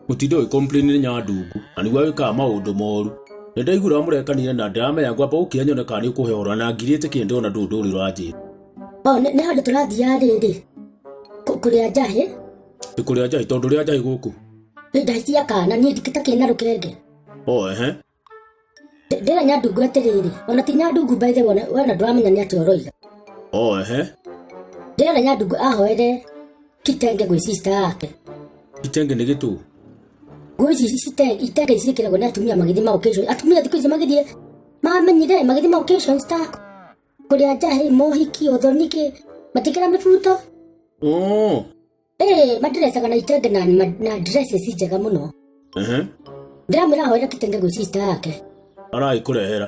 gũtinda ũgĩkomplainire nya ndungu na nĩguo wĩkaga maũndũ moru nĩ ndaiguire mũrekanire na ndiramenya ngwamba gũkĩa nyone kana nĩ ũkũhe ũhoro na ngirĩte kĩndĩ ona ndũũ ndũrĩ ũranjĩra o nĩ nĩ handũ tũrathiaga rĩrĩ kũ- kũrĩa njahĩ nĩ kũrĩa njahĩ tondũ rĩa njahĩ gũkũ nĩ njahĩ cia kana niĩ ndikĩtakĩrĩ na rũkenge o ehe ndĩra nyandungu atĩrĩrĩ ona ti nyandungu mbaithe wona wona ndũramenya nĩ atĩa ũroiga o ehe ndĩra nyandungu ahoere kitenge gwĩ sista yake itenge nĩ gĩtũ ngũĩ ici cite- itenge ici ciĩkĩragwo nĩ atumia magĩthiĩ maocation atumia thikũ ici magĩthiĩ mamenyire magĩthiĩ maocation star kũrĩa njahĩ mohiki ũthoniki matikĩra mĩbuto oo ĩĩ madresa kana itenge na, ma- na dress ici njega mũno Ehe. ndĩramwĩra ahoere kitenge gwĩ sister yake aragĩkũrehera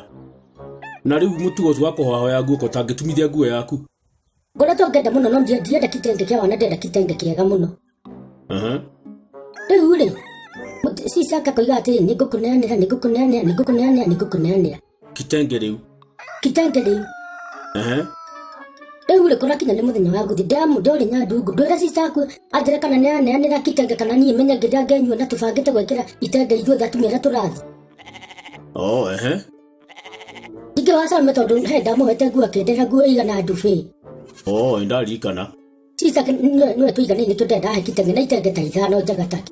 na rĩu mũtugo ũcio wa kũhoyahoya nguo ũtangĩtumithia nguo yaku ngoretwo ngenda mũno no ndi- ndienda kitenge kĩa wana ndenda kitenge kĩega mũno Ehe. rĩu rĩ mũti- sister yake akoiga atĩrĩ nĩngũkũneanĩra nĩngũkũneanĩra nĩngũkũneanĩra nĩngũkũneanĩra kitenge rĩu kitenge rĩu ehe rĩu rĩ kũrakinya nĩ mũthenya wa gũthiĩ ndĩramu ndorĩ nyandungu ndwĩra cicaku anjĩre kana nĩ aneanĩra kitenge kana niĩ menye ngĩrĩa ngenyua na tũbangĩte gwĩkĩra itenge ithuothe atumia arĩa tũrathiĩ o ehe ingĩ wa same tondũ he ndamũhete nguo akĩndĩra nguo igana ndubĩ o ĩ ndarikana cica nĩwe tũiganĩire nĩkĩo ndenda ahe kitenge na itenge ta ithano njega take